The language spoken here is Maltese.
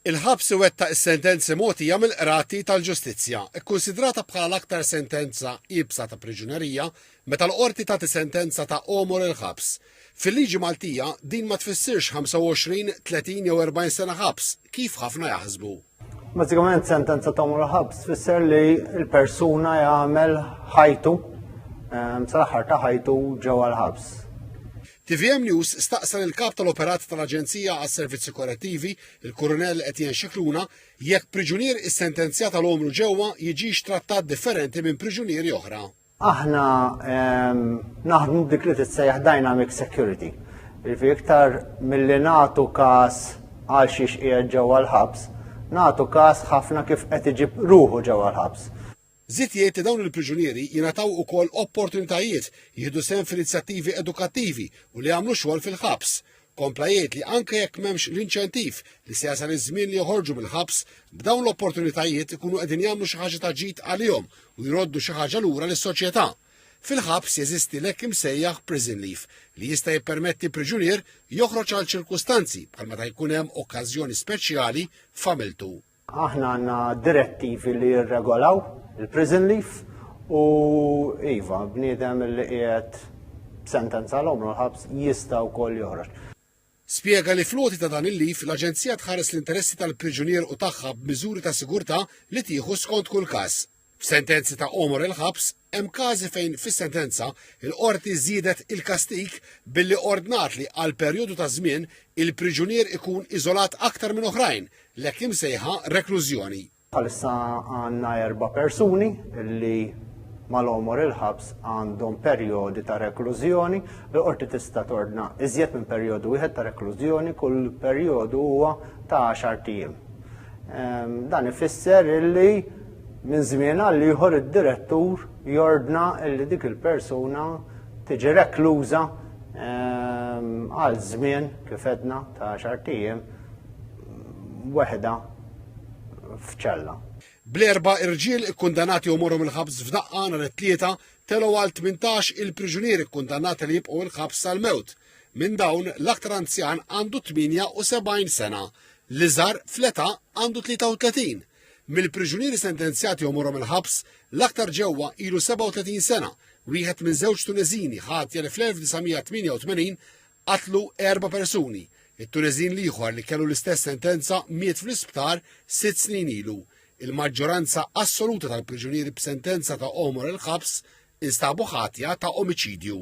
Il-ħabs iwettaq is-sentenzi mogħtija mill-qrati tal-ġustizzja, ikkunsidrata bħala l-aktar sentenza iebsa ta' priġunerija meta l-qorti tagħti sentenza ta' għomor il-ħabs. Fil-liġi Maltija, din ma tfissirx 25, 30 jew 40 sena ħabs, kif ħafna jaħsbu. Bażikament sentenza ta' għomor il-ħabs tfisser li l-persuna jagħmel ħajtu ehm, sal-aħħar ta' ħajtu ġewwa l-ħabs. Tvm News staqsa lill-Kap tal-Operat tal-Aġenzija għas-Servizzi Korrettivi, il-Kurunell Etienne Scicluna, jekk priġunier issentenzjat għal għomru ġewwa jiġix trattat differenti minn priġunieri oħra. Aħna ehm, naħdmu b'dik li titsejjaħ dynamic security. Ilfi iktar milli nagħtu każ għal xiex qiegħed ġewwa l-ħabs, nagħtu każ ħafna kif qed iġib ruħu ġewwa l-ħabs. Żied jgħid li dawn il-priġunieri jingħataw ukoll opportunitajiet jieħdu sehem f'inizjattivi edukattivi u li jagħmlu xogħol fil-ħabs. Kompla jgħid li anke jekk m'hemmx l-inċentiv li se jasal iż-żmien li joħorġu mill-ħabs, b'dawn l-opportunitajiet ikunu qegħdin jagħmlu xi ħaġa ta' ġid għalihom u jroddu xi ħaġa lura lis-soċjetà. Fil-ħabs jeżisti l-hekk imsejjaħ prison leave li jista' jippermetti priġunier joħroġ għal ċirkustanzi bħal meta jkun hemm okkażjoni speċjali f'familtu. Aħna għandna direttivi li jirregolaw il-prison leave u iva, bniedem li qiegħed sentenza l-omru l-ħabs jista' wkoll joħroġ. Spjega li fl-għoti ta' dan il-leave l-Aġenzija tħares l-interessi tal-priġunier u tagħha b'miżuri ta' sigurtà li tieħu skont kull każ. F'sentenzi ta' għomor il-ħabs, hemm każi fejn fis-sentenza, il-qorti żiedet il-kastig billi ordnat li għal perjodu ta' żmien il-priġunier ikun iżolat aktar minn oħrajn, l-hekk imsejħa reklużjoni. Bħalissa għandna erba' persuni li mal-għomor il-ħabs għandhom perjodi ta' reklużjoni. Il-qorti tista' tordna iżjed minn perjodu wieħed ta' reklużjoni, kull perjodu huwa ta' għaxart ijiem. Ehm, dan ifisser illi Minn żmien għal ieħor id-direttur jordna li dik il-persuna tiġi rekluża ehm, għal żmien kif edna ta' xartijiem weħda f'ċella. Bl-erba irġiel ikkundanati u morhom il-ħabs f'daqqa nhar it-tlieta telgħu għal 18 il-priġunieri kkundanati li jibqgħu il-ħabs sal-mewt. Minn dawn l-aktar anzjan għandu 78 sena, l-iżgħar fl-età għandu 33. Mill-priġunieri sentenzjati jew morhom il-ħabs, l-aktar ġewwa ilu 37 sena, wieħed minn żewġ Tuneżini ħatja li fl-1988 qatlu erba' persuni. It-Tuneżin l-ieħor li kellu l-istess sentenza miet fl-isptar sitt snin ilu. Il-maġġoranza assoluta tal-priġunieri b'sentenza ta' għomor il-ħabs instabu ħatja ta' omiċidju.